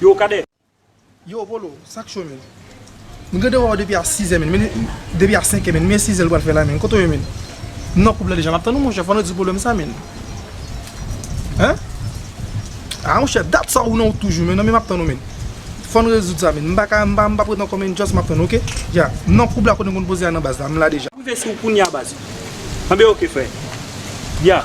Yo cadet. Yo Volo, sak cho menn? M gen de wè w depi a 6 è menn, men depi a 5 è menn, men 6 è l pral fè la menn, kote w ye menn? M nan koub la deja, m ap tann ou monchè, fò n rezoud pwoblèm sa menn. Hein? Ah monchè, dat sa ou nan wout toujou menn, nan men m ap tann ou menn. Fò n rezoud sa menn, m pa ka, m pa p ret ankò menn, just m ap tann ou ok. Ya, m nan koub la kote m konn poze a nan baz la, m la deja. M rive sou ou kounya baz. Anben ok frè. Ya.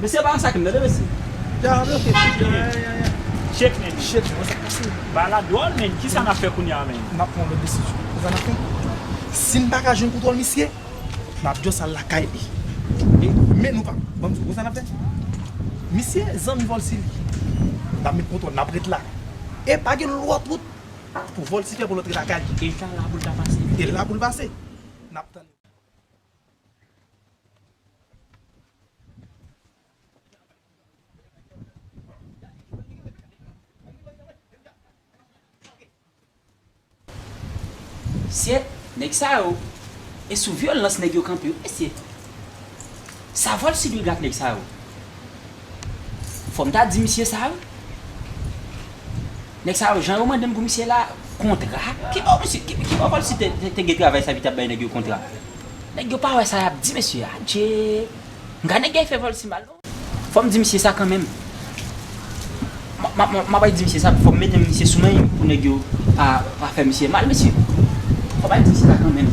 Mesye pa sa kem tande mesye. Jah antre ok Jah yeah yeah yeah yeah. Shake men byen. Shake men sak pase. Bagay la dwòl men kisa nap fè kounya men. Nap pran yon lòt desizyon. Ou konprann afè. Sim paka jwenn kontwòl misye map just al lakay li e men nou pa banm di ou konsa nap fè misye zanmi volcy li nap met kontwòl nap ret la e pa gen lòt wout pou volcy fè pou l antre lakay li e ta la poul ta pase e la poul pase nap tann. Mesye nèg sa yo e sou vyolans nèg yo kanpe wi mesye. Saval sibri gad nèg sa yo. Fòm ta di misye sa wi. Nèg sa yo jan yo mandem pou misye la kontra ki bò misye ki bò pòlisi te gen travay sa epi tap bay nèg yo kontra. Nèg yo pa wè sa yap di mesye adje mga nèg yo fè pòlisi mal non. Fòm di misye sa kanmenm. Map al di misye sa fòm mete misye sou men pou nèg yo pa fè misye mal mesye. Fòm al di misye sa kanmenm.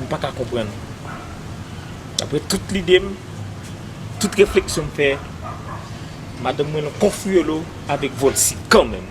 M pa ka konprann. Apre tout lide m, tout refleksyon m fè, madanm mwen nan konfiyolo avèk Volcy kanmenm.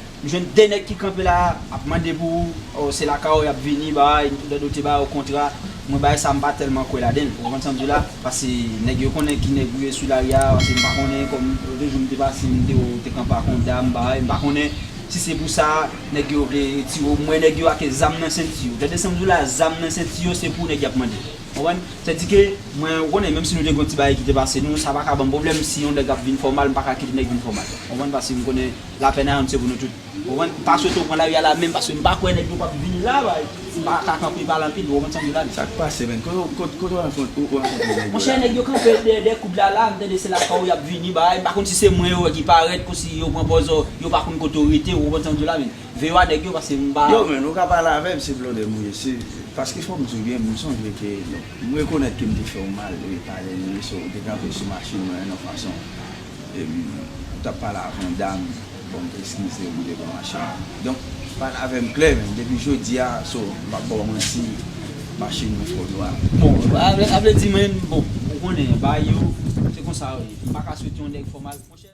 M jwenn 2 nèg ki kanpe la ap mande pou oh se lakay ou yap vini bay, Dordo te bay ou kontra, mwen bay sa m pa tèlman kwè ladenl ou konprann sam di la, pase nèg yo konnen ki nèg ou ye sou lari a, pase m pa konnen kòm de jou m te pase m te wè ou te kanpe ak yon dam bay, m pa konnen si se pou sa nèg yo vle retire ou, m wè nèg yo ake zam nan senti yo, tande sam di w la zam nan senti yo se pou nèg yap mande ou konprann, se di ke mwen ou konnen menm si nou te gen yon ti bagay ki te pase nou sa pa ka banm pwoblèm si yon nèg ap vin fè w mal m pa ka kite nèg vin fè w mal ou konprann pase m konnen. Lapèn ayòm se pou nou tout. Ou konprann? M pa swete w pran lari a la menm paske m pa kwè nèg yo p ap vin la bay m pa ka kanpe pale anpil ou konprann sa m di w la men. Sa k pase menn? Kote w kote w rankontre ou rankontre nèg yo la? Monchè nèg yo kanpe dèyè koud la la m tande se lakay w y ap vini bay m pa konn si se mwen yo wè ki parèt konsi yo pran pòz o yo pa konn kote w rete ou konprann sa m di w la menn veye w a nèg yo paske m pa Yo menn ou ka pale avè m se blòdè m ye se paske fò m di w byen m sonje ke m rekonèt ke m te fè w mal e pale m ye so ou te kanpe sou machin mwen yon fason. Epi ou tap pale avan dam bon eskizew m te pran machin donk pale avem klè men depi jodia so m pap baw manti machin mwen fo nwa. Bon a vle di menn bon ou konnen bagay yo se konsa yo ye m paka swete yon nèg fò mal monchè.